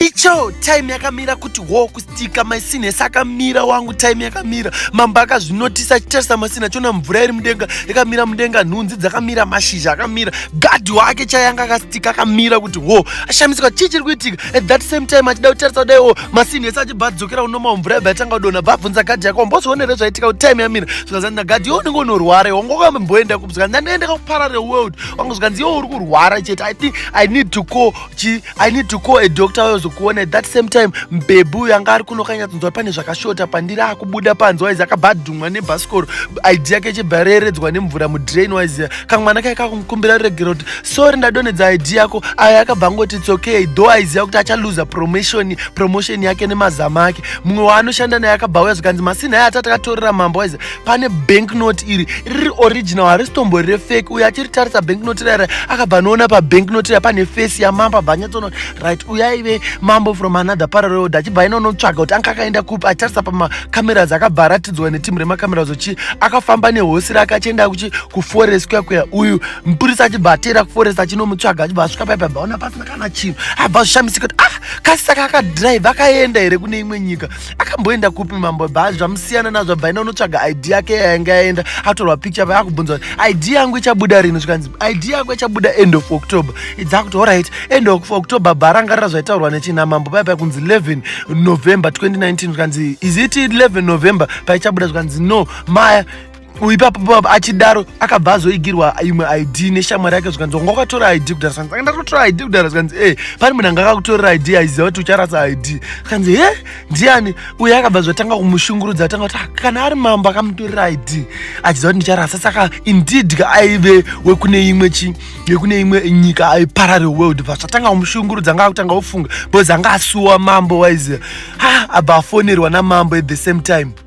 Icho time yakamira kuti wo kustika maisine sakamira wangu time yakamira mambo akazvinotisa achitarisa masina chona mvura iri mudenga yakamira mudenga nhunzi dzakamira mashizha akamira gadhi wake chayanga akastika akamira kuti wo ashamisika chii chiri kuitika at that same time achida kutarisa kudai wo masine ese achibva adzokera unoma mvura yabva yatanga kudona bva abvunza gadhi yako mbozvionere zvaitika kuti time yamira zvikazanina gadhi yo unenge unorwara iwe ngokamboenda kubzika ndanoenda kakuparare world wangu zvikanzi yo uri kurwara chete i think i need to call chi i need to call a doctor wayozokuona at that same time mbebhu uyo anga ari kuno kanyatsonzwa pane zvakashota pandiri akubuda panze waizi akabva adhumwa nebhasikoro id yake ichibva yareredzwa nemvura mudrain waiziya kamwana kai kakumukumbira ruregero kuti sori ndadonedza id yako ayo akabva angoti its okay though aiziva kuti achaluza promotion promotion yake nemazama ake mumwe waanoshanda naye akabva uya zvikanzi masina aye atati akatorera mambo waiziya pane banknote iri riri original harisitombo rire fake uyo achiritarisa banknote rira akabva anoona pabanknote rira pane face yamambo abva anyatsoona right uyo aive mambo from another parallel achibva aina unotsvaga kuti anga akaenda kupi achitarisa pamacameras akabva aratidzwa netimu remacameras uchi akafamba nehosi rake achienda kuchi kuforest kuya kuya uyu mupurisa achibva ateera kuforest achinomutsvaga achibva asvika paipa abva aona pasina kana chinhu abva azvishamisika kuti ah kasisa kakadrive akaenda here kune imwe nyika akamboenda kupi mambo bhazi zvamusiyana nazvo bvaina unotsvaga id yake yainge yaenda atorwa picture pa akubvunza id yangu ichabuda rini zvikanzi id yako ichabuda end of october idzakuti orit end of october bha rangarira zvaitaurwa nechina mambo paya paya kunzi 11 november 2019 zvikanzi is it 11 november paichabuda zvikanzi no maya uyu ipapo achidaro akabva azoigirwa imwe id neshamwari yake zvikanzi wanga wakatora id kudhara zvikanzi anga ndatotora id kudhara zvikanzi e pane munhu anga akakutorera id aiziva kuti ucharasa id zvikanzi he ndiani uye akabva zvatanga kumushungurudza atanga kuti ah, kana ari mambo akamutorera id achiziva kuti ndicharasa saka indeed ka aive wekune imwe chi yekune imwe nyika aiparare world bva zvatanga kumushungurudza anga akutanga ofunga bcause anga asuwa mambo waiziva ha ah, abva afonerwa namambo at the same time